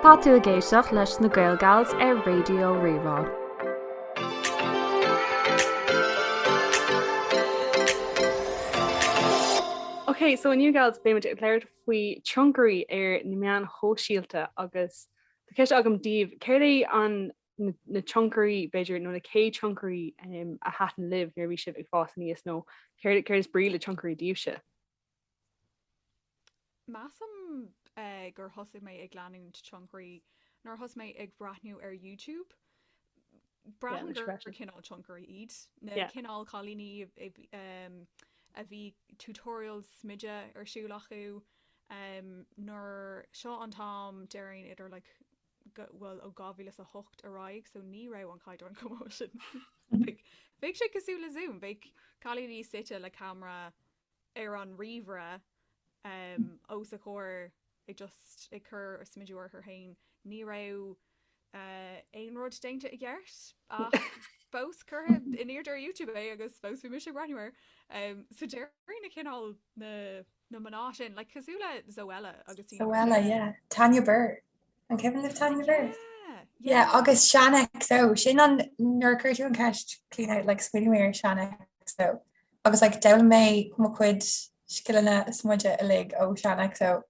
Tá tú ag éisteacht leis na Gaelgals ar Raidió Rí-Rá. Ok so inniu gals beimid ag labhairt faoi tionchairí ar na meáin shóisialta agus tá ceist agam daoibh céard é an na tionchairí, b'fhéidir, nó na chéad tionchairí a thaitin libh nuair a bhí sibh ag fás aníos, nó céard is brí le tionchairí díbhse? Measaim gur thosaigh mé ag leanúint tionchairí nuair a thosaigh mé ag breathnú ar YouTube. Braithim gur cineál tionchairí iad, na cineál cailíní a bhí tutorials smididh ar siúl acu. Nuair seo an t-am, déarfainn idir like bhuel ó 2008 ar aghaidh so ní raibh an caighdeán chomh maith sin. Bheadh sé cosúil le Zoom, bheadh cailíní suite le camera ar an ríomhaire os a gcomhair ag just ag cur smidiú orthu fhéin, ní raibh aon rud déanta i gceart ach fós curtha in airde ar YouTube é agus fós bhí mise ag breathnú air. So déarfainn na cineál. na mná sin, like cosúil le Zoella agus Tanya Burr. Zoella yeah, Tanya Burr, an cuimhin libh Tanya Burr? Yeah, yeah. agus Shaaanxo, sin an nuair a chuir tú an ceist clean out, like smaoinigh mé ar Shaaanxo agus like d'fhoghlaim mé mo chuid scileanna smididh uilig ó Shaaanxo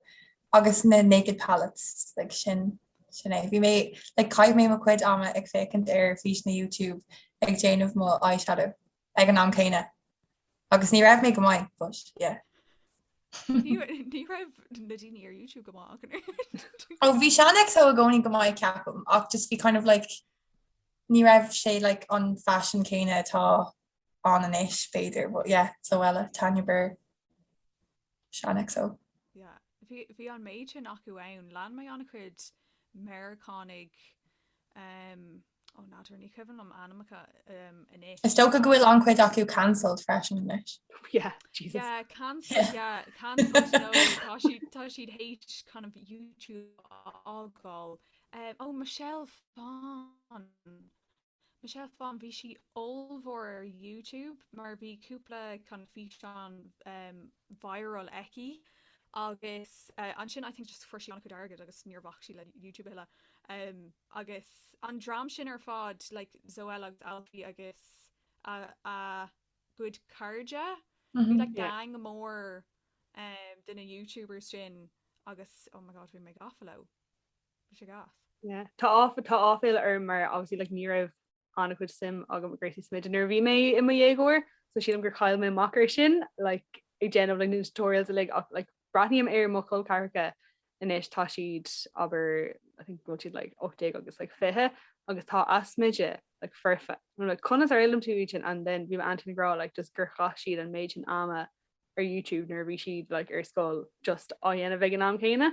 agus na Naked Palettes, like sin sin é. Bhí mé like chaith mé mo chuid ama ag féacaint ar físeáin YouTube ag déanamh mo eyeshadow. ag an am céanna agus ní raibh mé go maith, but yeah. Ní raibh na daoine ar YouTube go maith ach an oiread. Ó bhí Shaaanxo i gcónaí go maith ceapaim ach just bhí kind of like ní raibh sé like an faisean céanna atá ann anois b'fhéidir but yeah Zoella, Tanya Burr, Shaaanxo. bhí, bhí an méid sin acu ann. Lean mé an-chuid Meiriceánaigh, ó n'fheadar, ní cuimhin liom ainmeacha anois. Is dócha go bhfuil an-chuid acu cancelled freisin anois. Yeah, Jesus. Yeah, cancelled, yeah, cancelled, no, tá siad, tá siad hate kind of YouTube a fhágáil. Ó, Michelle Phan. Michelle Phan, bhí sí ollmhór ar YouTube mar bhí cúpla kind of físeán viral aici agus ansin I think just fuair sí an-chuid airgead agus níor bhac sí le YouTube a thuilleadh. Agus an dream sin ar fad like Zoella agus Alfie agus a a gcuid cairde, bhí like gang mór de na YouTubers sin agus oh my god bhí mé gafa leo. Bhí sé gas. Yeah. Tá áf- tá áiféala orm mar obviously like ní raibh an-chuid suim agam i gcúrsaí smididh nuair a bhí mé i mo dhéagóir so sílim gur chaill mé amach ar sin like ag déanamh like na tutorials uilig ach like breathnaím ar mo chol ceathracha anois tá siad abair I think bhfuil siad like ocht déag agus like fiche agus tá a smididh like foirfe. I'm like conas ar fhoghlaim tú iad sin and then bhí m'aintín ag rá like just gur chaith siad an méid sin ama ar YouTube nuair a bhí siad like ar scoil just á dhéanamh ag an am céanna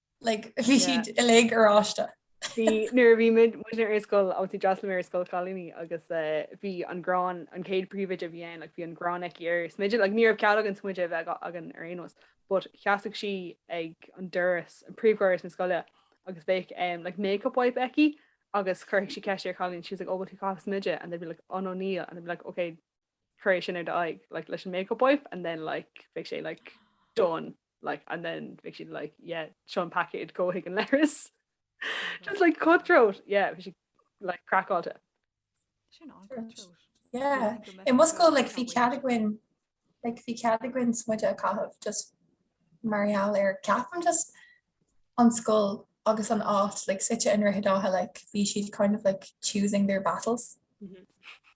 Like bhí siad uilig oráiste. Bhí, nuair a bhí muid muidne ar an scoil, obviously d'fhreastail mé ar scoil chailíní agus eh bhí an gráin, an chéad príomhoide a bhí ann, like bhí an gráin aici ar smididh, like ní raibh cead againn smididh a bheith againn ar aon nós, but sheasadh sí ag an doras, an príomhdhoras na scoile agus bheadh em like makeup wipe aici agus chuirfeadh sí ceist ar chailín, she was like oh bhfuil tú ag caitheamh smididh and they'd be like oh no níl and I'd be like ok cuir é sin ar d'aghaidh like leis an makeup wipe and then like bheadh sé like done like and then bheadh siad like yeah seo an paicéad gabh chuig an leithreas just like cutthroat yeah bhí siad like craiceáilte. Sin an cutthroat. Yeah. I mo scoil like bhí cead againn like bhí cead againn smideadh a chaitheamh just mar gheall ar ceapaim just an scoil agus an áit like suite i nDroichead Átha like bhí siad kind of like choosing their battles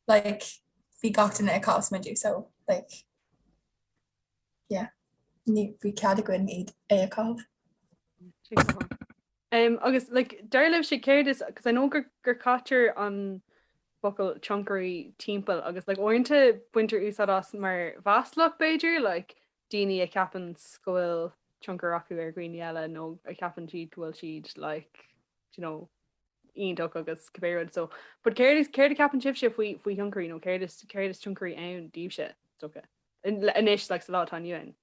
like bhí gach duine ag caitheamh smididh so like yeah bhí cead againn iad é a chaitheamh. Um, agus like, dar libhse céard is cos I know gur, gur caitear an focal tionchairí timpeall agus like, uaireanta baintear úsáid as mar mhaslach b'fhéidir like, daoine a cheapanns go bhfuil tionchar acu ar dhaoine eile nó a cheapann siad go bhfuil siad like do you know iontach agus cibé rud so but céard is céard a cheapann sibhse faoi faoi thionchairí nó céard is céard is tionchairí ann daoibhse, is dócha, in anois like sa lá atá inniu ann?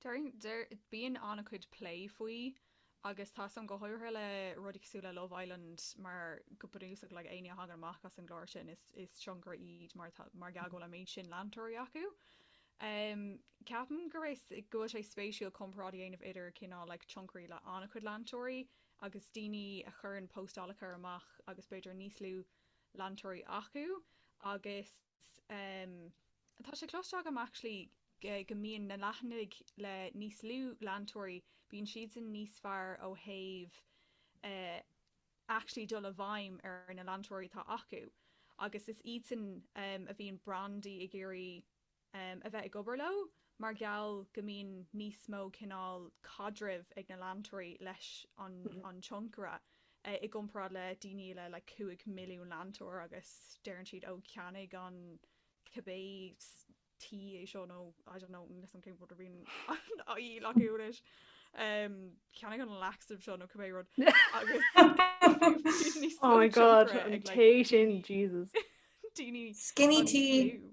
Deir deir bíonn an-chuid plé faoi. Agus tá a fhios agam go háirithe le rudaí cosúil le Love Island mar go bunúsach like éinne a thagann amach as an gclár sin is is tionchairí iad mar tá mar gheall go bhfuil an méid sin leantóirí acu. Em ceapaim gur is go bhfuil sé spéisiúil comparáid a dhéanamh idir cineál like tionchairí le an-chuid leantóirí agus daoine a chuireann postálacha amach agus b'fhéidir níos lú leantóirí acu agus S, Tá sé cloiste agam actually go mbíonn na leathanaigh le níos lú leantóirí, bíonn siadsan níos fearr ó thaobh actually dul i bhfeidhm ar na leantóirí atá acu agus is iadsan a bhíonn brandaí ag iarraidh a bheith ag obair leo. mar gheall go mbíonn níos mó cineál caidrimh ag na leantóirí leis an an tionchaire i gcomparáid le daoine eile le 5 milliún leantóir agus deireann siad oh ceannaigh an cibé tae é seo nó I don't know níl 'fhios a'm cén rud a bhíonn ann acu anois ehm ceannaigh an laxative seo nó cibé rud agus níos mó oh my god tionchaire an ag like tae sin Jesus daoine Skinny an tea. fliú.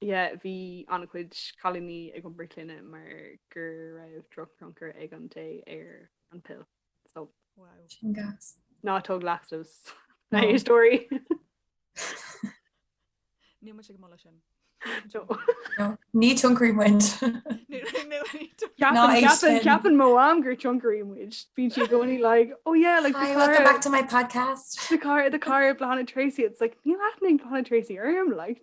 Yeah, bhí an-chuid cailíní ag iompar clainne mar gur raibh drochthionchar ag an tae ar an pill. So. Wow. Sin gas. Ná tóg laxatives. No. Ná, a stóirí. Níl muid ag moladh sin. No. No. Ní tionchairí muid. Ceapann mo mham gur tionchairí muid. Bíonn sí gcónaí like, oh yeah, like Hi, welcome back to my podcast. Le Carl, le Carl, Bláthnaid Treacy. It's like, níl aithne ag Bláthnaid Treacy orm, like.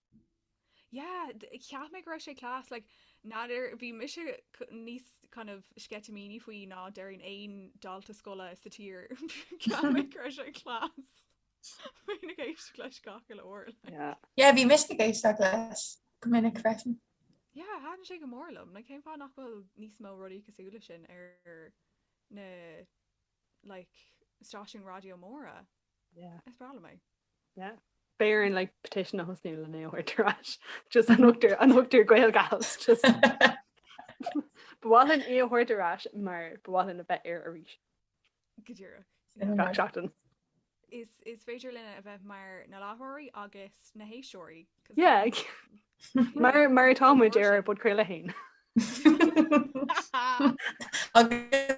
Yeah, cheap mé go raibh sé class, like n'fheadar, bhí mise níos kind of sceitimíní faoi ná déarfainn aon dalta scoile sa tír, cheap mé go raibh sé class, bhínn ag éisteacht leis gach uile uair like. Yeah. Yeah, bhí mise ag éisteacht leis go minic freisin. Yeah, thaitn sé go mór liom, like cén fáth nach bhfuil níos mó rudaí cosúil leis sin ar na. like stáisiún raidió móra. Yeah. Is breá liom é. Yeah. B'fhéidir linn like petition a thosnú len é a thabhairt ar ais. Just an t-ochtar an t-ochtar Gaeilgeoirí just Ba mhaith linn é a thabhairt ar ais mar ba mhaith linn a bheith ar arís. Go díreach. Gach seachtain. Is is féidir linne a bheith mar na láithreoirí agus na héisteoirí. 'cause Yeah. Mar mar atá muid ar ár bpodchraoladh féin. Agus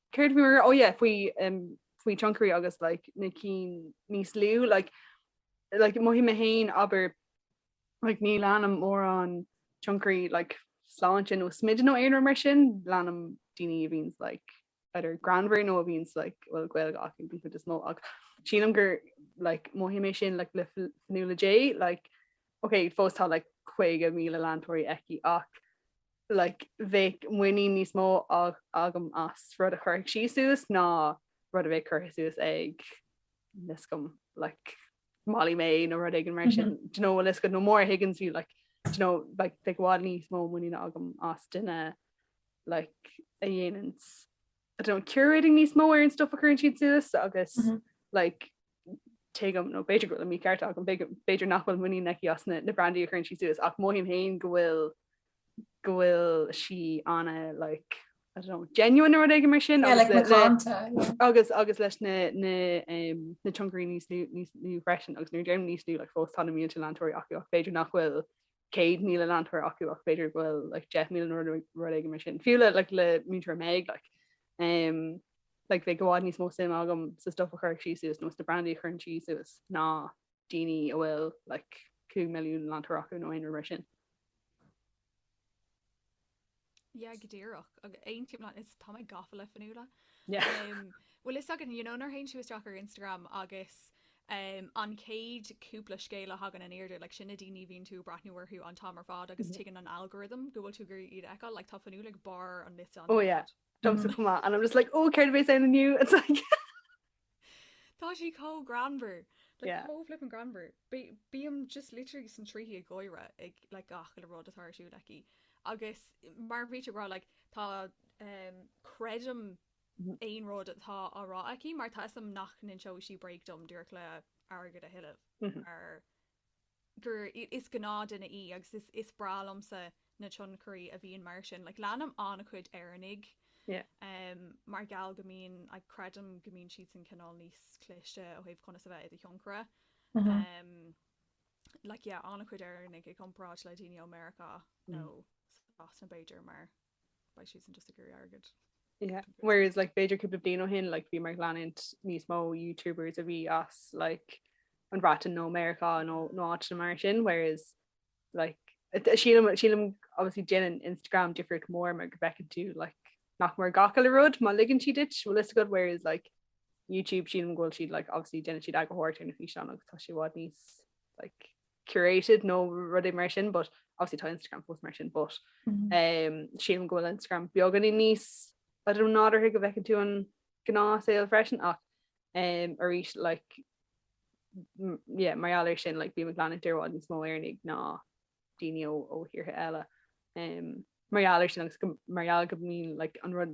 Céard a bhí mar, oh yeah, faoi faoi tionchairí agus like na cinn níos lú like like mothaím mé féin abair like ní leanaim mórán tionchairí like sláinte nó smididh nó aon rud mar sin, leanaim daoine a bhíonns like either greannmhar nó a bhíonns like bhuel Gaeilgeoirí den chuid is mó ach sílim gur like mothaím mé sin like le Fionnuala Jay like ok fós tá like 50,000 leantóirí aici ach like bheadh muinín níos mó agam as rud a chuirfeadh sí suas ná rud a bheadh curtha suas ag níl 'fhios agam like Molly-Mae nó rud éigin mar sin do you know what I was gonna, nó Maura Higgins fiú like do you know like bheadh i bhfad níos mó muiníne agam as duine like a dhéananns I don't know curating níos mó ar an stuff a chuireann siad suas agus like D'you get me, nó b'fhéidir go bhfuil an mícheart a'm, b'fhéidir nach bhfuil muinín aici as na brandaí a chuireann sí suas, ach mothaím féin go bhfuil, go bhfuil sí ana like, I don't know, genuine nó rud éigin mar sin agus, agus leis na, na, na tionchairí níos lú, níos lú freisin agus nuair a deirim níos lú like fós tá na mílte leantóirí acu ach b'fhéidir nach bhfuil céad míle leantóirí acu ach b'fhéidir go bhfuil like deich míle nó rud éigin mar sin, fiú le like le múinteoir Méibh like um like bheadh i bhfad níos mó suime agam sa stuff a chuirfeadh sí suas nó sna brandaí a chuireann sí suas ná daoine a bhfuil like cúig milliún leantóir acu nó aon rud mar sin. Yeah go díreach agus aontaím, like tá mé gafa le fionnuala bhfuil a fhios agat you know nuair théann tú isteach ar Instagram agus an chéad cúpla scéal a thagann in airde like sin na daoine a bhíonn tú ag breathnú orthu an t-am ar fad agus tuigeann an algorithm go bhfuil tú ag iarraidh iad a fheiceáil like tá fionnuala ag barr an liosta oh yeah. Domsa chomh maith and I'm just like oh céard a bhéas ann inniu it's like. Tá sí chomh greannmhar! Like chomh flippin greannmhar! Bím just literally san tríthi ag gáire ag like gach uile rud atá ar siúl aici agus mar a bhí tú ag rá like tá ehm creidim aon rud atá á rá aici mar tá 'fhios a'm nach n-inseoidh sí bréag dom díreach le airgead a thuilleamh mar gur, is gnáth duine í agus is, is breá liomsa na tionchairí a bhíonn mar sin, like leanaim an-chuid Éireannaigh Yeah. em mar gheall go mbíonn, like creidim go mbíonn siadsan cineál níos cliste ó thaobh conas a bheith i do thionchaire Uh-huh. em like yeah an-chuid Éireannaigh i gcomparáid le daoine ó Meiriceá nó Sasana b'fhéidir mar, Beidh siadsan just ag iarraidh airgead. Yeah whereas like b'fhéidir cúpla bliain ó shin like bhí mé ag leanúint níos mó youtubers a bhí as like an Bhreatain nó Meiriceá nó nó áiteanna mar sin whereas like sílim sílim obviously déanann Instagram difríocht mhór mar go bhfeiceann tú like nach mór gach uile rud má ligeann siad duit bhfuil a fhios agat whereas like YouTube sílim go bhfuil siad like obviously déanann siad eagarthóireacht ar na físeáin agus tá sé i bhfad níos like curated nó rud éigin mar sin but obviously tá Instagram fós mar sin but um, sílim go bhfuil Instagram beagáinín níos I don't know, nádúrtha go bhfeiceann tú an gnáthshaol freisin ach um, arís like, m- yeah, mar gheall ar sin like, bím ag leanúint i bhfad níos mó Éireannaigh ná daoine ó, ó thíortha eile. Um, mar gheall ar sin agus go, mar gheall go mbíonn like, an rud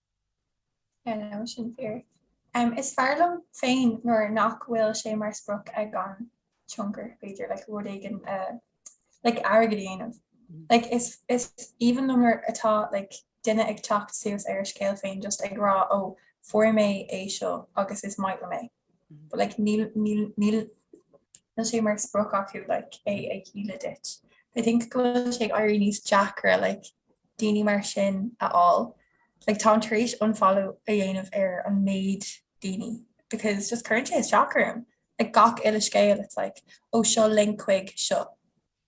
No sin fíor. Is fearr liom féin nuair nach bhfuil sé mar sprioc ag an tionchaire, b'fhéidir, like rud éigin a like airgead a dhéanamh. Like is is aoibhinn liom nuair atá like duine ag teacht suas ar a scéal féin just ag rá, oh, fuair mé é seo agus is maith liom é. like níl níl níl níl sé mar sprioc acu like é a dhíol duit. I think go bhfuil sé ag éirí níos deacra like daoine mar sin a fháil. Like táim tar éis unfollow a dhéanamh ar an méid daoine because just cuireann sé isteach orm. Like gach uile scéal it's like ó seo link chuig seo,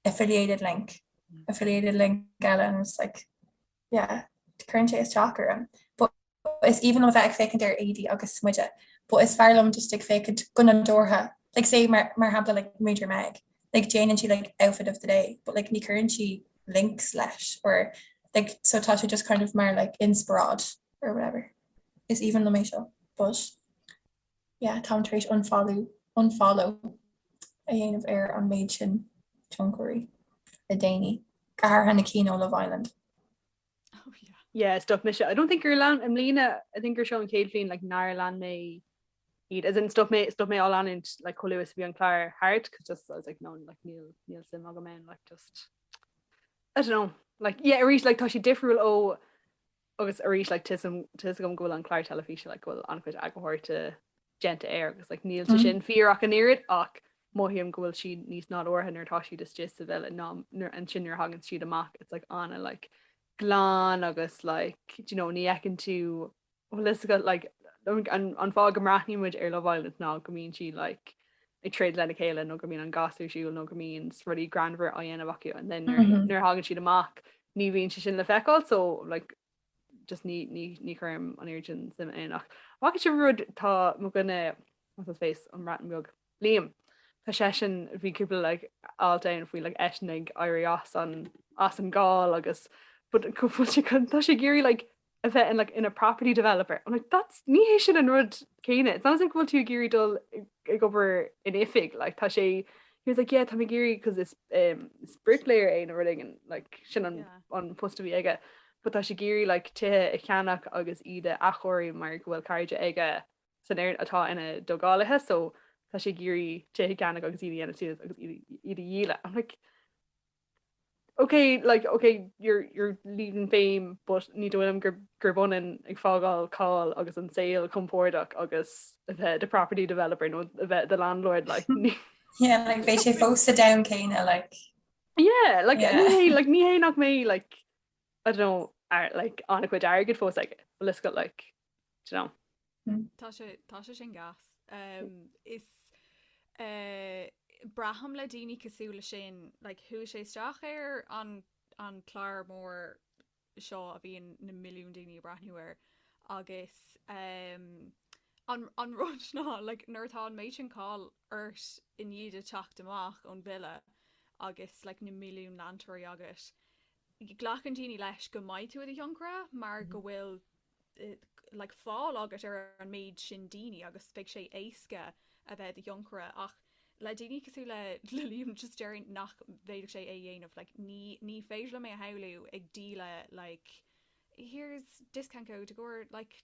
affiliated link, affiliated link and I'm just like yeah cuireann sé isteach orm. But is aoibhinn liom bheith ag féachaint ar éadaí agus smideadh but is fearr liom just ag féachaint go nadúrtha like say mar mar shampla like muintir Meg like déanann sí like outfit of the day but like ní chuireann sí links leis or like so tá sé just kind of mar like inspiráid or whatever is aoibhinn liom é so but yeah táim tar éis unfollow a dhéanamh ar an méid sin tionchairí le déanaí go háirithe na cinn ó Love Island Oh yeah. Yeah, stop mise. I don't think gur lean, i mbliana, I think gur seo an chéad bhliain like nár lean mé iad, as in stop mé, stop mé á leanacht like chomh luath is a bhí an clár thart, 'cause just I was like no, like níl, níl suim agam ann, like just, I don't know, like yeah, arís like tá sé difriúil ó, agus arís like tuigim, tuigim go bhfuil an clár teilifíse like go bhfuil an-chuid eagarthóireachta déanta air agus like níl sé sin fíor ach an oiread ach mothaím go bhfuil siad níos nádúrtha nuair atá siad istigh sa villa ná nuair ansin nuair a thagann siad amach it's like ana like glan agus like do you know ní fheiceann tú bhfuil fhios agat like an an fáth go mbreathnaíonn muid ar Love Island ná go mbíonn siad like ag troid lena chéile nó go mbíonn an Casa ar siúl nó go mbíonn rudaí greannmhar á dhéanamh acu and then nuair nuair a thagann siad amach ní bhíonn sé sin le feiceáil so like just ní ní chuirim an oiread sin suim ann ach an bhfaca sibh an rud tá mo dhuine what's his face an Bhreatain Bheag Liam tá seisean bhí cúpla like alt ann faoi like eisean ag éirí as an as an gcáil agus but cúpla seachtain tá sé ag iarraidh like a bheith in like in a property developer I'm like that's ní hé sin an rud céanna it's not as if go bhfuil tú ag iarraidh dul ag obair in oifig like tá sé He was like, yeah, tá mé ag iarraidh because it's, um, it's bricklayer é nó rud éigin, like, sin an, Yeah. an post a bhí aige. But tá sé ag iarraidh like, tithe a cheannach agus iad a athchóiriú mar go bhfuil cairde aige is an athair atá ina dtógálaithe, so tá sé ag iarraidh tithe a cheannach agus iad a dhéanamh suas agus iad a- iad a dhíoladh. I'm like, Ok like ok you're you're leaving fame but ní dóigh liom gur gurb ionann ag fágáil cáil agus an saol compordach agus a bheith the property developer nó a bheith the landlord like ní Yeah like bheidh sé fós sa domhan céanna like Yeah like yeah. ní hé like ní hé nach mbeidh like I don't know ar like an-chuid airgid fós aige, bhfuil fhios agat like Tá sé, tá sé sin gas. 'S braithim le daoine cosúil leis sin, like, chuaigh sé isteach ar an an clár mór seo a bhíonn na milliúin daoine ag breathnú air agus an an rud ná, like, nuair atá an méid sin cáil ort i ndiaidh duit teacht amach ón villa agus, like, na milliúin leantóirí agat, Glacann daoine leis go mbeidh tú i do thionchar mar go bhfuil like fáil agat ar an méid sin daoine agus beidh sé éasca a bheith i do thionchar ach le daoine cosúil le Liam just déarfainn nach bhféadfadh sé é a dhéanamh like ní ní féidir liom é a shamhlú ag díol like here's a discount code go bhfuair like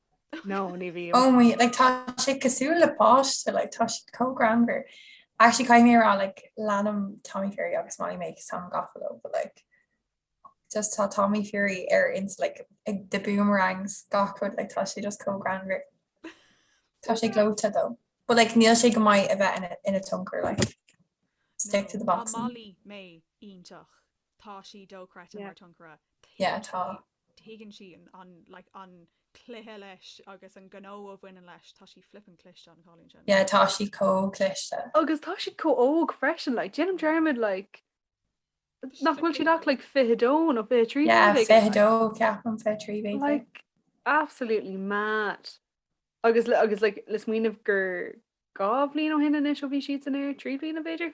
No, ní bhíonn. Oh my, like tá sé cosúil le páiste, like tá sé chomh greannmhar. Actually caithfidh mé a rá like leanaim Tommy Fury agus Molly-Mae cos táim gafa leo but like just tá Tommy Fury ar ins like ag the boomerangs gach rud like tá sé just chomh greannmhar. Tá sé gleoite though. But like níl sé go maith a bheith in a in a tionchar like stick to the boxing. Tá Molly-Mae iontach. Tá sí dochreidte Yeah. mar tionchaire. Yeah, tá. tuigeann sí an, an, like, an cluiche leis agus an gnó a bhaineann leis, tá sí flippin cliste, an cailín sin. Yeah, tá sí chomh cliste. Agus tá sí chomh óg freisin, like, déanaim dearmad, like, nach bhfuil siad ach, like, fiche dó nó fiche trí? Yeah, fiche dó, ceapaim, fiche trí, bhí. Like, absolutely mad. Agus, agus, like, le smaoineamh gur dhá bhliain ó shin anois ó bhí siad san air, trí bhliain b'fhéidir?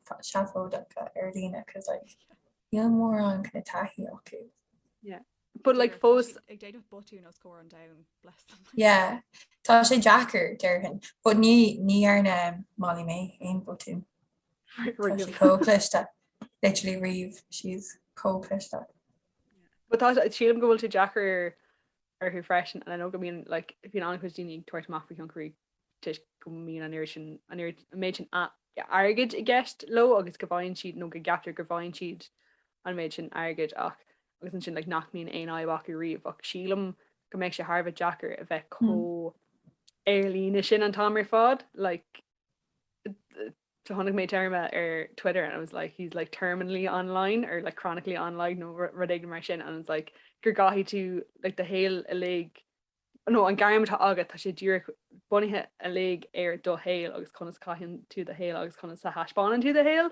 seafóideacha ar líne cos like níl mórán kind of taithí acu. Yeah. But like fós ag déanamh botún os comhair an domhain bless them. Yeah. Tá sé deacair déarfainn, but ní ní dhearna Molly-Mae aon botún. Chomh cliste literally riomh she's chomh cliste. But tá sílim go bhfuil sé deacair orthu freisin and I know go mbíonn like bíonn an-chuid daoine ag tabhairt amach faoi tionchairí toisc go mbíonn an oiread sin, an oiread, an méid sin airgid i gceist leo agus go bhfaigheann siad, nó go gceaptar go bhfaigheann siad an méid sin airgid ach, agus ansin like nach mbíonn aon fhadhb acu riamh ach sílim go mbeadh sé thar a bheith deacair a bheith chomh ar líne sin an t-am ar fad like so chonaic mé téarma ar Twitter and I was like it's like terminally online or like chronically online nó rud éigin mar sin and it's like go gcaithfidh tú like do shaol uilig nó an gairm atá agat, tá sé díreach bunaithe uilig ar do shaol agus conas caitheann tú do shaol agus conas a thaispeánann tú do shaol,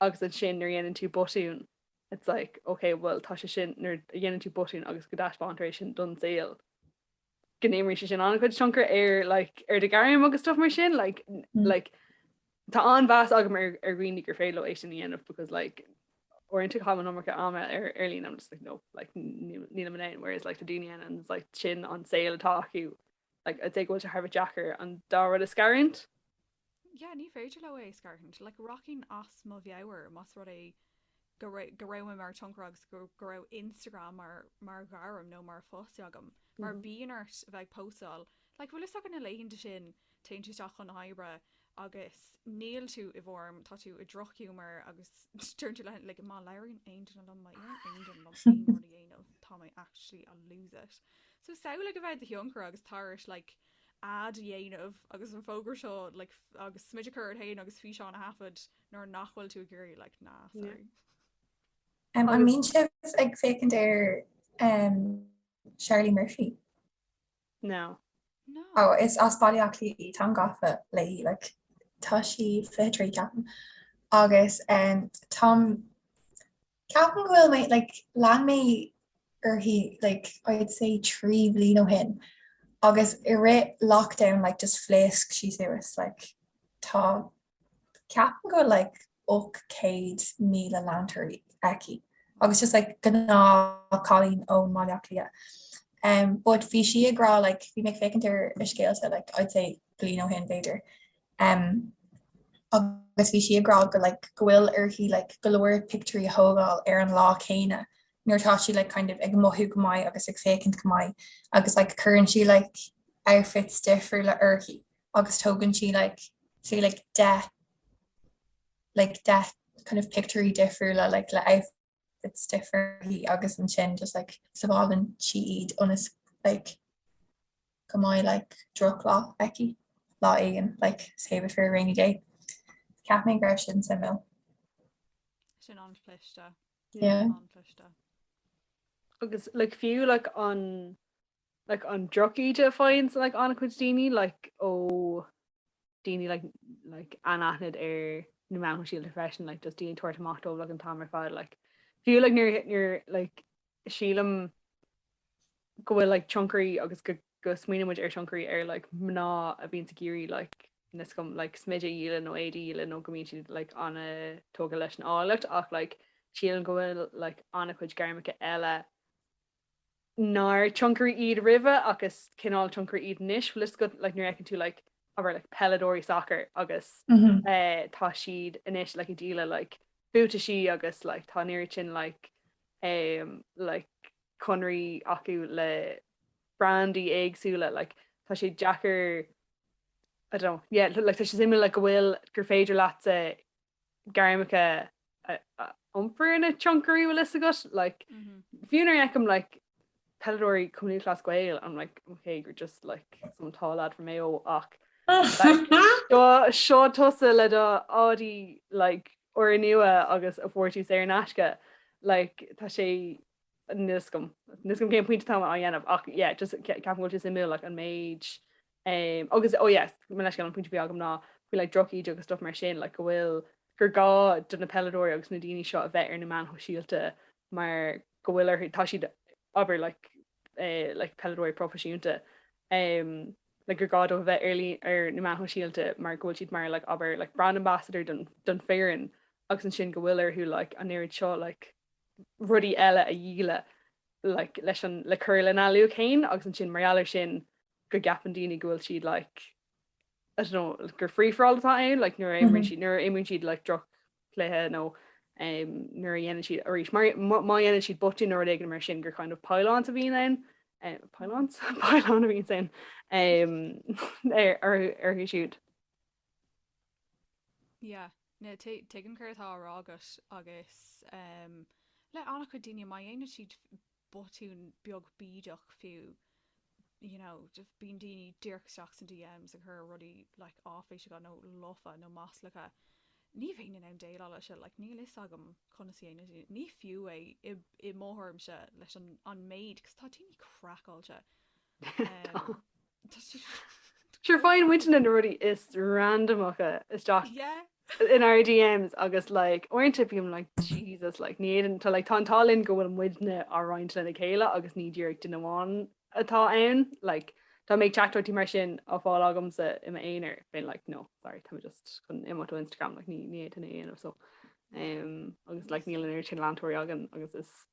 agus ansin nuair a dhéanann tú botún it's like ok bhuel tá sé sin, nuair a dhéanann tú botún agus go dtaispeántar é sin don saol go n-imríonn sé sin an-chuid tionchair ar like ar do ghairm agus stuff mar sin like like Tá an-mheas agam ar dhaoine gur féidir leo é sin a dhéanamh because like uaireanta caithim an iomarca ama ar ar líne I'm just like no like nílim in ann whereas like tá daoine ann and it's like sin an saol atá acu like I'd say go bhfuil sé thar a bheith deacair an dá rud a scarúint. Yeah ní féidir leo é a scarúint like rachainn as mo mheabhair más rud é go raibh mé mar thionchaire agus go raibh Instagram mar ghairm nó mar phost agam mar bíonn ort a bheith ag postáil like bhfuil fhios agat na laethanta sin téann tú isteach chun na hoibre agus níl tú i bhform, tá tú i drochghiúmar agus deireann tú le like má labhraíonn aon duine liom, má iarrann aon duine orm aon rud a dhéanamh tá mé actually I'll lose it. So samhlaigh a bheith i do thionchaire agus tá ort like ad a dhéanamh agus an fógra seo like agus smideadh a chur ort féin agus físeán a thaifead, Nuair nach bhfuil tú ag iarraidh like nah sorry. An mbíonn sibh ag féachaint ar Charlie Murphy? No. No. Ó, is as Baile Átha Cliath í, táim gafa léi, like tá sí 23 ceapaim, agus táim, ceapaim go bhfuil mé, like lean mé í like I'd say trí bhliain ó shin, agus i rith lockdown like just phléasc sí suas, like tá Ceapaim go bhfuil like 800,000 leantóir aici agus just like gnáthchailín ó Bhaile Átha Cliath. Em but bhí sí ag rá like bhí mé ag féachaint ar a scéalta like I'd say bliain ó shin b'fhéidir em agus bhí sí ag rá go like go bhfuil uirthi like go leor pictiúirí a thógáil ar an lá céanna nuair atá sí like kind of ag mothú go maith agus ag féachaint go maith agus like cuireann sí like outfits difriúla uirthi. agus tógann sí like sí like deich like deich kind of pictiúirí difriúla like le outfits difriúla agus ansin just like sábhálann sí iad ionas like go mbeidh like drochlá aici lá éigin like save it for a rainy day. Cheap mé go raibh sin suimiúil. Sin an-chliste. Yeah. An-chliste. Agus like fiú like an like an drochíde a faigheann like an-chuid daoine like ó daoine like like anaithnid ar na meáin sóisialta freisin like just daoine tabhairt amach dóibh like an t-am ar fad like fiú like nuair nuair like sílim go bhfuil like tionchairí agus go go smaoiníonn muid ar thionchairí ar like mná a bhíonns ag iarraidh like níos, go mb, like smideadh a dhíol nó éadaí a dhíol nó go mbíonn siad like ana-thógtha leis an áilleacht ach like sílim go bhfuil like an-chuid gairmeacha eile nár tionchairí iad roimhe agus cineál tionchairí iad anois, bhfuil 'fhios agat, like nuair a fheiceann tú like abair like peileadóirí sacair agus eh tá siad anois like ag díoladh like buataisí agus like tá an oiread sin like eh like conarthaí acu le brandaí éagsúla like tá sé deacair I don't know yeah like tá sé suimiúil like go bhfuil gur féidir leatsa gairmeacha a iompar ina tionchairí bhfuil fhios agat like fiú nuair a fheicim like peileadóirí Cumann Lúthchleas Gael bím like ok you're just like some tall lad from Mayo ach seo seo tusa le do Audi like úrnua agus go bhfuair tú saor in aisce like tá sé níl a fhios agam níl a fhios agam cén pointe atá mé á dhéanamh ach yeah just ceapaim go bhfuil sé suimiúil like an méid Umm agus oh yes, mo leithscéal, an pointe a bhí agam ná faoi like drochíde agus stuff mar sin, like go bhfuil, gur gá do na peileadóirí agus na daoine seo a bheith ar na meáin shóisialta mar go bhfuil orthu, tá siad, abair, like eh like peileadóirí proifisiúnta, umm like gur gá dóibh a bheith ar líne, ar na meáin shóisialta mar go bhfuil siad mar like abair, like brand ambassador don don foireann agus ansin go bhfuil orthu like an oiread seo like rudaí eile a dhíol like leis an le cur lena luach féin agus ansin mar gheall air sin go gceapann daoine go bhfuil siad like I don't know gur free for all atá ann like nuair a imríonn siad nuair a imríonn siad like droch chluiche nó nuair a dhéanann siad arís má dhéanann siad botún nó rud éigin mar sin gur kind of pile-on a bhíonn ann pile-on pile-on a bhíonn ann ar orthu siúd. Yeah, no, tuigim céard atá á rá agat agus em, le an-chuid daoine má dhéanann siad botún beag bídeach fiú you know, bíonn daoine díreach isteach sna DMs ag cur rudaí like áiféiseacha nó lofa nó maslacha, ní bheinn in ann déileáil leis sin, like níl fhios agam conas a dhéanann siad, ní fiú é i mo thuairimse leis an an méid 'cause tá daoine craiceáilte. Sure faigheann muidne na rudaí is randamacha isteach in ár DMs agus like uaireanta bím like Jesus like ní fhéadann, tá like tá an t-ádh linn go bhfuil muidne á roinnt lena chéile agus ní díreach duine amháin atá ann like dá mbeadh teachtaireachtaí mar sin á fáil agamsa i m'aonar beinn like no sorry tá mé just chun imeacht ó Instagram like ní fhéadfainn é a dhéanamh so um agus like níl an oiread sin leantóirí againn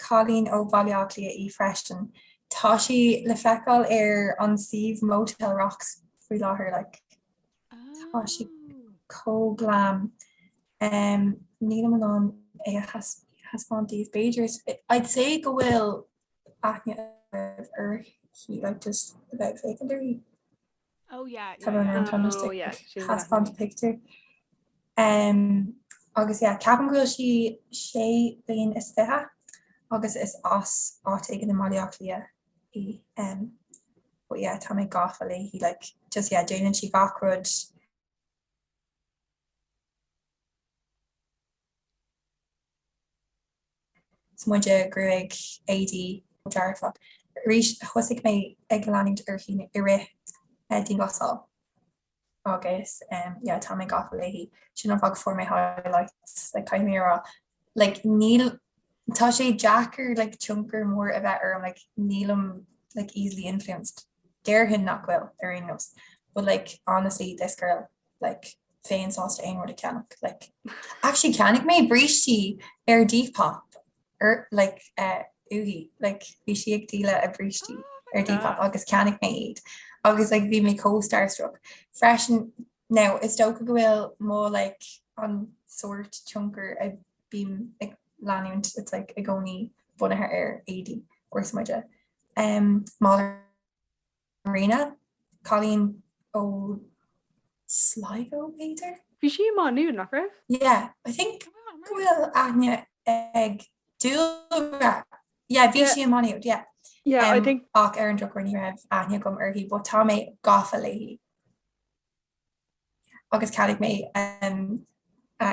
cailín ó Bhaile Átha Cliath í freisin. Tá sí le feiceáil ar an suíomh Motel Rocks faoi láthair. Like tá sí chomh glam. Em nílim in ann é a thaispeáint daoibh. B'fhéidir is I'd say go bhfuil aithne uirthi like just ó bheith ag féachaint uirthi. Tá mé ag taispeáint pictiúr. Agus yeah, ceapaim go bhfuil sí sé bliain is fiche agus is as áit éigin i mBaile Átha Cliath í. But yeah, tá mé gafa léi, like just yeah, déanann sí gach rud. Smideadh, gruaig, éadaí, dearfach. Arís thosaigh mé ag leanúint uirthi i rith dianghlasáil agus yeah tá mé gafa léi. Sin an fáth go fuair mé highlights, like caithfidh mé a rá like níl, tá sé deacair like tionchar mór a bheith orm, like nílim like easily influenced, déarfainn nach bhfuil ar aon nós, but like honestly this girl. like bheinn sásta aon rud a cheannach like actually cheannaigh mé brístí ar Depop ar like eh uaithi like bhí sí ag díol a brístí Oh my ar Depop gosh. agus ceannaigh mé iad agus like bhí mé chomh starstruck freisin now is dócha go bhfuil mo like an sórt tionchar a bím ag leanúint it's like i gcónaí bunaithe ar éadaí agus smideadh em málaí Marina, cailín ó Sligo, b'fhéidir? Bhí sí i Má Nuad, nach raibh? Yeah, I think go bhfuil aithne ag Dúlra, yeah, bhí sí i Má Nuad, yeah. Yeah, um, I think... Ach ar an drochuair ní raibh aithne agam uirthi, but tá mé gafa léi. Agus ceadaigh mé um, a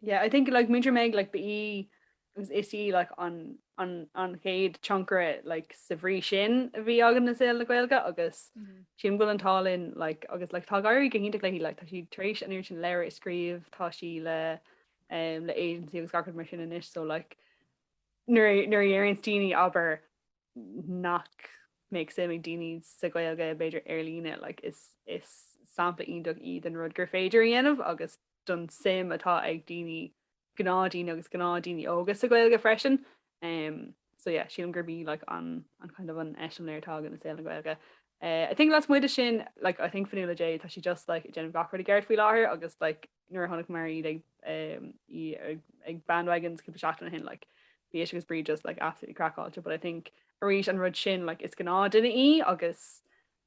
Yeah I think like Múinteoir Meg like ba í agus is í like an an an chéad tionchaire like sa bhrí sin a bhí againn i saol na Gaeilge agus sílim go bhfuil an t-ádh linn like agus like tá ag éirí go hiontach léi like tá sí tar éis an oiread sin leabhar a scríobh tá sí le um le agency agus gach rud mar sin anois so like nuair nuair a deireanns daoine abair nach mbeadh suim ag daoine sa Gaeilge b'fhéidir ar líne like is is sampla iontach í den rud gur féidir a dhéanamh agus don suim atá ag daoine, gnáthdhaoine agus gnáthdhaoine óga sa Ghaeilge freisin. em so yeah sílim gurb í like an an kind of an eiseamláir atá againn i saol na Gaeilge. Eh I think lasmuigh de sin like I think Fionnuala Jay tá sí just like ag déanamh gach rud i gceart faoi láthair agus like nuair a chonaic mé iad ag em í ag ag bandwagons cúpla seachtain ó shin like bhí sí agus Bríd just like absolutely crackáilte but I think arís an rud sin like is gnáthdhuine í agus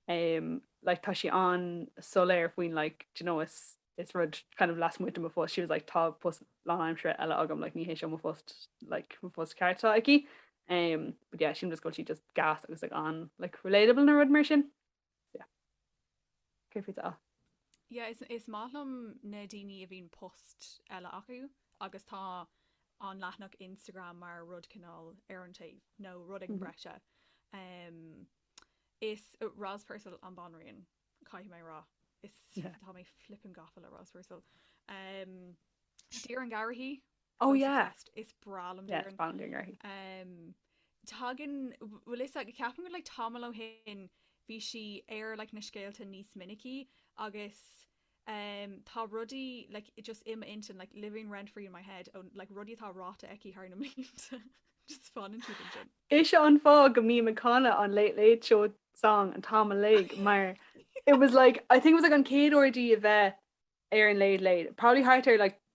em like tá sí an-soiléir faoin like do you know is is rud kind of lasmuigh de mo phost, she was like tá post lánaimseartha eile agam, like ní hé seo mo phost, like mo phost ceart atá aici. Um, but yeah, sílim just go bhfuil sí just gas agus like an like relatable nó rud mar sin. Yeah. Céard fútsa? Yeah, is, is maith liom na daoine a bhíonn post eile acu agus tá an leathanach Instagram mar rud cineál ar an taobh nó rud beag mhm. breise. Um, is Roz Purcell an banríon. Caithfidh mé a rá, is tá mé flippin' gafa le Roz Purcell. Doireann Garrihy, Oh yeah! Fancy Fest, is breá liom Doireann Garrihy. Tagann, bhuel is ag, ceapaim go like tamall ó shin bhí sí ar like na scéalta níos minicí agus em tá rudaí like just i m'intinn like living rent free in my head ó like rudaí atá ráta aici thar na mblianta just fanann siad ansin. Is ea, an fáth go mbím ag canadh an Late Late Show song an t-am uilig mar it was like I think it was like an chéad uair di a bheith ar an Late Late, probably thart ar like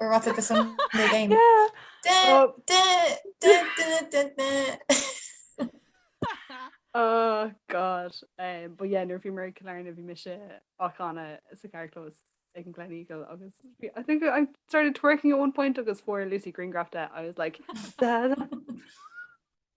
We're about to do some new game. Yeah. Da, da, da, da, da, da. Oh god. Um, but yeah, nuair a bhí muid i gCill Airne bhí mise ag canadh sa charrchlós ag an Gleneagle agus bhí- I think I started twerking at one point agus fuair Lucy grianghraf de I was like "Da, da."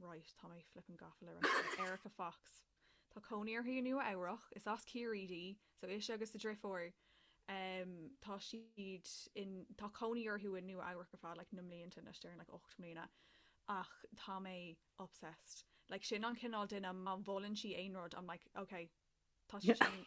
right, tá mé flippin gafa le Erika Fox. Tá cónaí uirthi i Nua Eabhrac. Is as Ciarraí di. So ise agus a deirfiúr, em, tá siad in, tá cónaí orthu i Nua Eabhrac le fada, like, na blianta anois, déarfainn like ocht mbliana. Ach tá mé obsessed. Like sin an cineál duine má mholann sí aon rud, I'm like, okay, tá sé sin.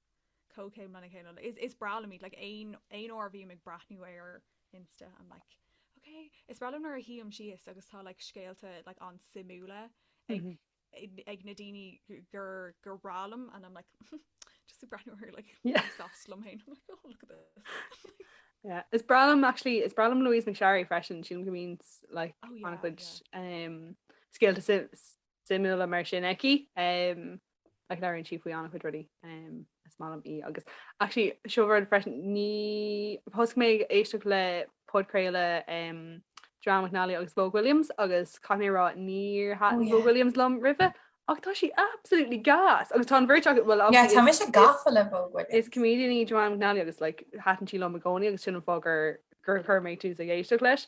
comhchéim lena chéile le Is breá liom iad, like, aon aon uair a bhím ag breathnú ar Insta I'm like ok Is breá liom nuair a shuím síos agus tá, like, scéalta, like, an-suimiúla ag ag ag na daoine gur gur bhreá liom and I'm like just ag breathnú ar, like, socks liom féin I'm like oh look at this Yeah, is breá liom actually, is breá liom Louise McSharry freisin, sílim go mbíonn, like, Oh, yeah, an-chuid yeah. um, scéalta suim- suimiúla mar sin aici ach labhraíonn sí faoi an-chuid rudaí is maith liom í agus actually seo rud freisin thosnaigh mé ag éisteacht le podchraoladh Joanne McNally agus Vogue Williams agus caithfidh mé a rá níor thaitin Vogue Williams liom roimhe ach tá sí absolútely gas agus tá an bheirt acu bhuel Yeah, tá mise gafa le Vogue Williams. Is comedian í Joanne McNally agus like thaitin sí liom i gcónaí agus sin an fáth gur gur chuir mé tús ag éisteacht leis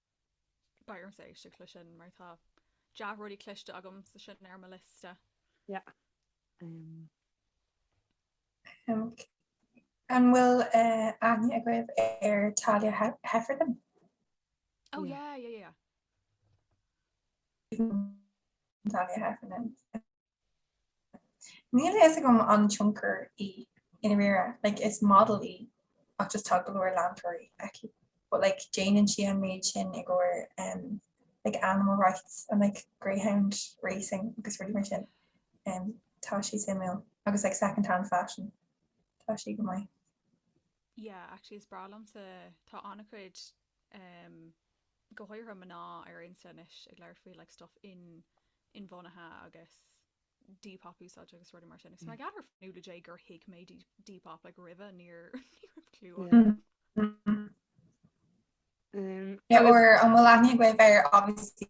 Beidh ormsa éisteacht leis sin mar tá dea-rudaí cloiste agamsa, tá sin ar mo liosta. Yeah. Um. Um, an bhfuil uh, aithne agaibh ar Thalia Heffernan? Oh, yeah, yeah, yeah. yeah. Thalia Heffernan. Níl a fhios agam an tionchaire í i ndáiríre, like is model í ach just tá go leor leantóirí aici but like déanann sí an méid sin i gcomhair em like animal rights and like greyhound racing agus rudaí mar sin em tá sí suimiúil agus like second hand fashion tá sí go maith. Yeah, actually is breá liomsa tá an-chuid go háirithe mná ar Insta anois ag labhairt faoi like stuff in inbhuanaithe agus Depop a úsáid agus rudaí mar sin agus b'fhearr liom le Dia gur thuig mé Depop like roimhe níor ní raibh clue agam. Or an bhfuil aithne agaibh ar obviously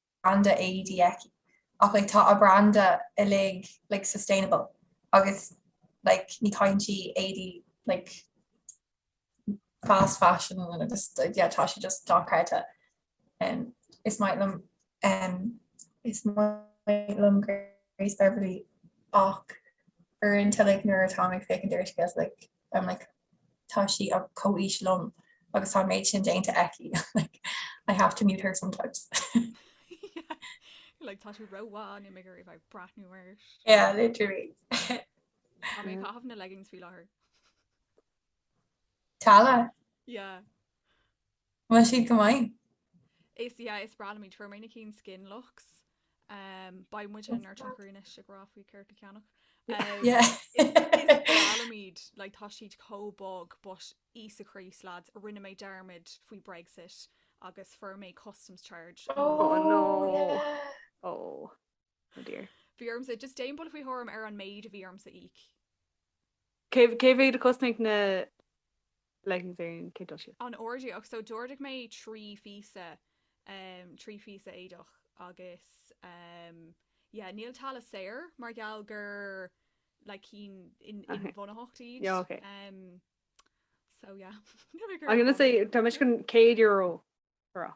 branda éadaí aici ach like tá a branda uilig like sustainable agus like ní chaitheann sí éadaí like fast fashion agus yeah tá sí just dochreidte and is maith liom um, is maith liom Grace Beverly ach uaireanta like nuair atáim ag féachaint ar scéal like I'm like tá sí ar comhaois liom agus tá an méid sin déanta aici like I have to mute her sometimes. like tá sí ró mhaith níl mé ag iarraidh a bheith ag breathnú uirthi. Yeah, literally. Tá mé ag caitheamh na leggings faoi láthair. Tala? Yeah. Bhfuil siad go maith. Is yeah is breá liom iad. Fuair mé na cinn SkinLuxe. Beidh muid inár dtionchairí anois ag rá faoi céard le ceannach. Yeah Is breá liom iad like tá siad chomh bog but Íosa Críost lads rinne mé dearmad faoi Brexit agus fuair mé customs charge ó Oh Oh no no yeah Oh oh dear Bhí ormsa just déan buille faoi thuairim ar an méid a bhí ormsa íoc. Cé mhéad a chosnaigh na leggings ar an gcéad dul síos. an ordú ach so d'ordaigh mé trí phíosa, trí phíosa éadach agus yeah níl Tala saor mar gheall gur like cinn inbhuanaitheacht iad yeah ok so yeah I'm gonna say tá mé sin céad euro for a.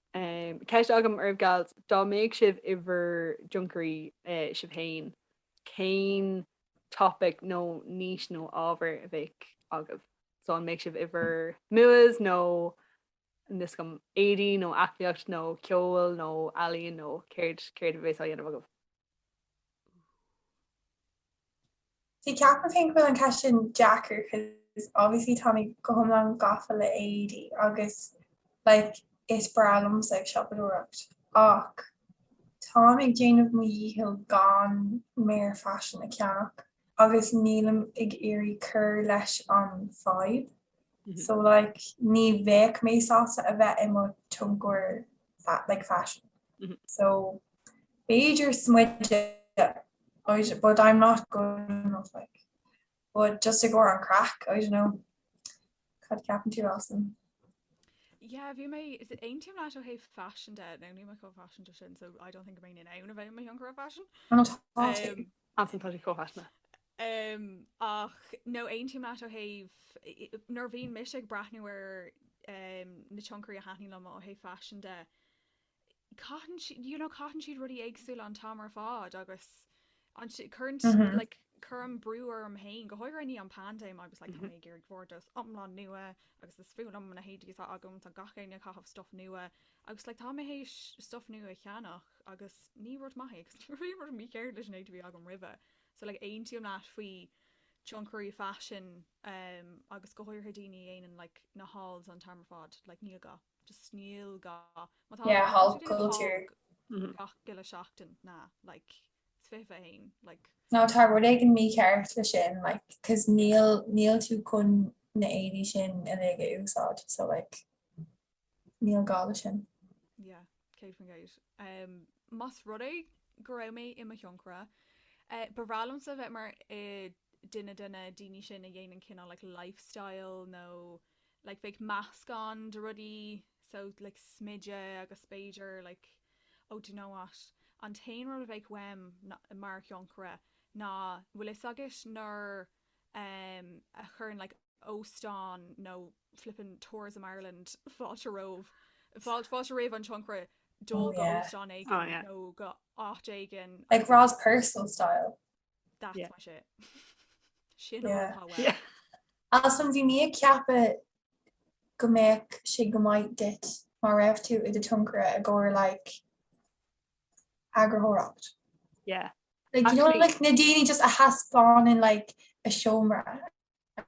Ceist agam oraibh gals, dá mbeidh sibh i bhur dtionchairí sibh féin, cén topic nó niche nó ábhar a bheadh agaibh? So an mbeidh sibh i bhur MUAs nó níl a fhios agam éadaí nó aclaíocht nó ceol nó ealaín nó céard, céard a bheas á dhéanamh agaibh? See ceapaim féin go bhfuil an ceist sin deacair cos obviously táimid go hiomlán gafa le éadaí agus like is breá liomsa ag siopadóireacht ach táim ag déanamh mo dhícheall gan mear faisean a cheannach agus nílim ag iarraidh cur leis an fadhb so like ní bheadh mé sásta a bheith i mo tionchaire. like fashion. Mm -hmm. So Beiidir smuide but I'm not going off like but just to go on crack I don't know cut captain too awesome. Yeah, vi me is it aim na ha fashion de no ni ma fashion sin so I don't think main in aim of my younger fashion um, faisin tá sé chomh haithne. Ach no aontaím leat ó thaobh, nuair a bhíonn mise ag breathnú ar na tionchairí a thaitníonn liom ó thaobh faisin de, caitheann siad, you know, caitheann siad rudaí éagsúla an t-am ar fad agus cuireann siad, like, cuirim brú orm féin, go háirithe i ndiaidh an phaindéim, I was like, tá mé ag iarraidh vardrús iomlán nua agus is fuath liom na héadaí atá agam, tá gach éinne ag caitheamh stuff nua, Agus like tá mé tar éis stuff nua a cheannach agus ní rud maith é agus ní raibh aon rud mícheart leis an méid a bhí agam roimhe. So like aontaím leat faoi tionchairí faisin ehm agus go háirithe daoine a dhéanann like na hauls an t-am ar fad like níl gá, just níl gá má tá Yeah haul culture mhm gach uile seachtain nó like fiche hauls in aon like No tá rud éigin mícheart leis sin like cos níl níl tú chun na héadaí sin uilig a úsáid so like. Níl gá le sin. Yeah, céad faoin gcéad. Um, más rud é go raibh mé i mo thionchaire, uh, ba bhreá liomsa bheith mar uh, duine de na daoine sin a dhéanann cinál like, lifestyle nó like, bheadh meascán de rudaí so like, smideadh agus b'fhéidir like, oh, do you know what? An t-aon rud a bheadh uaim mar thionchaire ná bhfuil a fhios agat nuair a chuireann like óstán nó flippin Tourism Ireland fáilte roimh fáilte roimh an tionchaire dul go óstán éigin nó go áit éigin like Roz Purcell style that's yeah. my shit sin yeah. yeah. ansin bhí mé ag ceapadh go mbeadh sé go maith duit má raibh tú i do thionchaire i gcomhair like eagraitheoireacht. Yeah. Like you know like na daoine just a thaispeánann like a seomra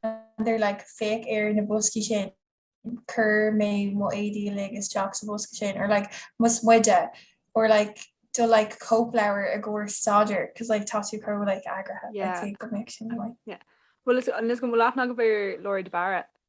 and they're like féach ar na boscaí sin chuir mé mo éadaí uilig isteach sa bhosca sin or like mo smideadh or like do like cóipleabhar i gcomhair staidéar because like tá tú chomh like eagraithe Yeah. like, go mbeadh sin an-mhaith. Well is amhail is gur mhaith leat a bheith mar Laura de Barra.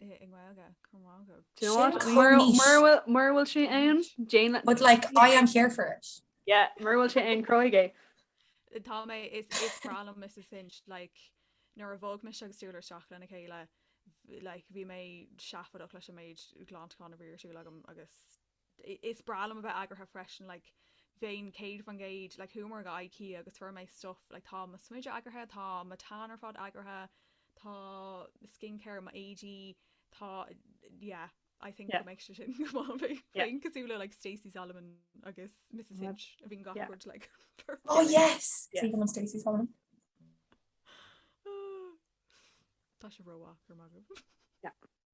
i nGaeilge, go raibh maith agat. Do you know what? Mura mura bhfuil sé ann, déan é. But like, I am here for it. Yeah, mura bhfuil sé ann, cruthaigh é. Tá mé, is is breá liom Mrs Hinch like nuair a bhog mise agus Julia isteach lena chéile like bhí mé seafóideach leis an méid glantacháin a bhí ar siúl agam agus Is breá liom a bheith eagraithe freisin, like bheinn 100% like chuamar go IKEA agus fuair mé stuff, like tá mo smideadh eagraithe, tá mo tan ar fad eagraithe, tá skincare, mo éadaí, tá yeah, I think go mbeadh sé sin go maith, bheinn bheinn cosúil le like Stacey Solomon agus Mrs Hinch a bhíonn gach rud like perfect. Oh yes! Is aoibhinn liom Stacey Solomon. Tá sé ró-mhaith, go raibh maith agat.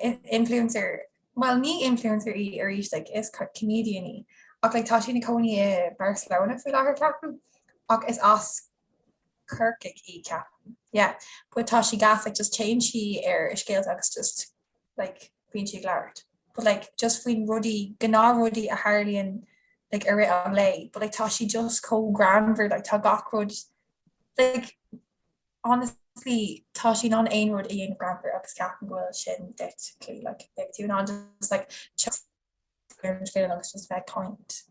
Influencer? Bhuel, ní influencer í arís, like, is comedian í. Ach, like, tá sí ina cónaí i Barcelona faoi láthair, ceapaim, ach is as Corcaigh í, ceapaim, yeah. But tá sí gas, like, just téann sí ar a scéalta agus just, like, bíonn sí ag labhairt. But, like, just faoin rudaí, gnáthrudaí a tharlaíonn, like, i rith an lae. But, like, tá sí just chomh greannmhar, like, tá gach rud, like, Honestly tá sí in ann aon rud a dhéanamh greannmhar agus ceapaim go bhfuil sin duit clú like beidh tú in ann just like chuir an rud féin agus just bheith kind.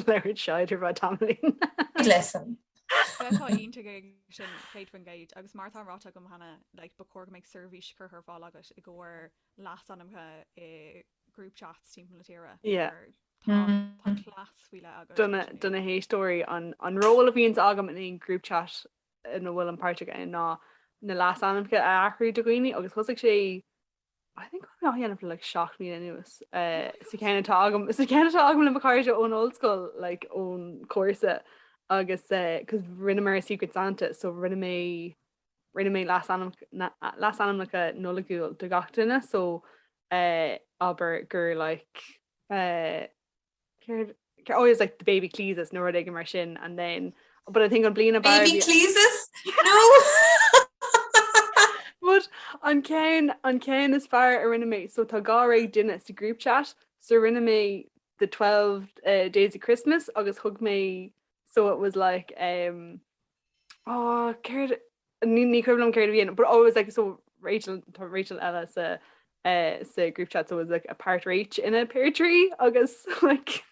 Labhraíonn Seáid ar feadh tamaill linn. Good listen. Sea, tá aointear againn sin gcéad faoin gcéad, agus mar atá ráite agam cheana, like ba chóir go mbeadh seirbhís curtha ar fáil agat i gcomhair leasainmneacha i group chats timpeall na tíre, Yeah. mar tá class faoi leith agat. do na héisteoirí an ról a bhíonns agam in aon group chat ina bhfuil mé páirteach ann ná na leasainmneacha a athrú do dhaoine agus thosaigh sé I think mé á dhéanamh le like seacht mbliana anuas eh, sa cheann atá agam sa cheann atá agam le mo chairde ón ollscoil like ón gcúrsa agus eh, cos rinneamar Secret Santa so rinne mé rinne mé leasainmneacha Nollaigiúil do gach duine so eh, abair gur like eh, céard I always like the baby cleeses nó ag mar sin and then but I think an bliana baby cleeses no But an céin an céin is fear a rinne mé so tá gá ré duine sa group chat so rinne mé the 12 uh, days of Christmas agus thug mé so it was like um oh céard Ní, ní cuimhin liom céard a bhí ann, but always like so Rachel, tá Rachel eile sa eh, sa group chat, so it was like a part Rach in a pear tree agus like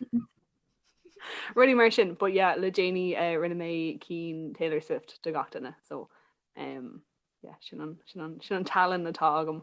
rudaí mar sin, but yeah, le déanaí eh, rinne mé cinn Taylor Swift do gach duine, so em, yeah, sin an, sin an, sin an tallann atá agam.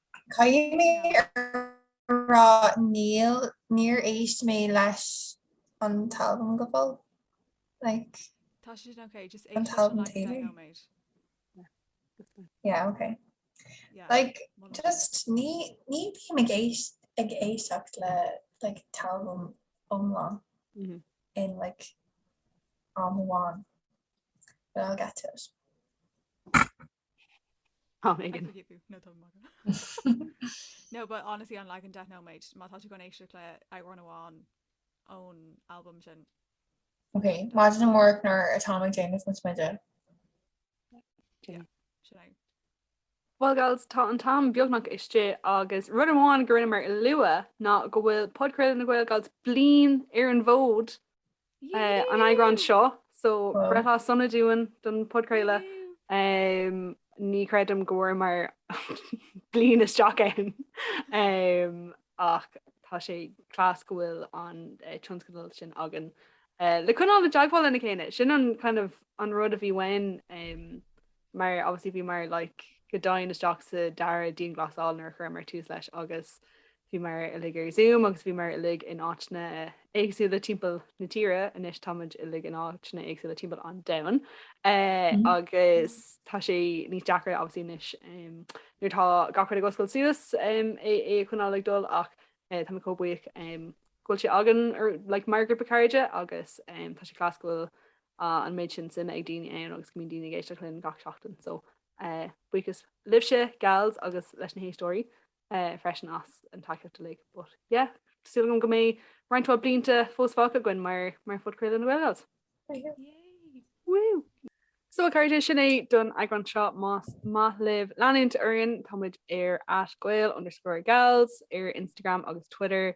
Caithfidh mé a rá níl, níor éist mé leis an t-albam go fóill, like. Tá sé sin ok, just éist leis an t-albam Taylor. Yeah, ok. Like, just, ní bím ag éist, ag éisteacht le, like, t-albam iomlán in like am amháin, but I'll get to it. Ó, Megan. Caithfidh tú, ó Megan. No but honestly an leagan deich nóiméad, má tá tú chun éisteacht le amhrán amháin ón albam sin. Ok, maidin amárach nuair atá mé ag déanamh mo smideadh. Yeah, sin é. Bhuel gals, tá an t-am beagnach istigh agus rud amháin nach ndearnamar a lua ná go bhfuil Podchraoladh na Gael gals bliain ar an bhfód an eagrán seo, so breithlá sona dúinn don podchraoladh. Ní chreidim go bhfuaramar bliain isteach ann ach tá sé class go bhfuil an tionscadal sin againn le coinneáil i dteagmháil lena chéile. Sin an kind of an rud a bhí uainn mar obviously bhíomar like go domhain isteach sa dara dianghlasáil nuair a chuireamar tús leis agus Bhíomar uilig ar Zoom agus bhíomar uilig in áiteanna éagsúla timpeall na tíre, anois tá muid uilig in áiteanna éagsúla timpeall an domhain agus tá sé níos deacra obviously anois nuair atá gach rud ag oscailt suas é a choinneáil ag dul ach tá mé chomh buíoch go bhfuil sé againn like mar ghrúpa cairde agus tá sé class go bhfuil an méid sin suime ag daoine ann agus go mbíonn daoine ag éisteacht linn gach seachtain so buíochas libhse, gals agus leis na héisteoirí. freisin as an tacaíocht uilig but yeah tá súil agam go mbeidh roinnt mhaith blianta fós fágtha againn mar mar phodchraoladh na Gael Gals. Woo! So a chairde, sin é don eagrán seo. Más maith libh leanúint orainn, táimid ar @gael_gals ar Instagram agus Twitter.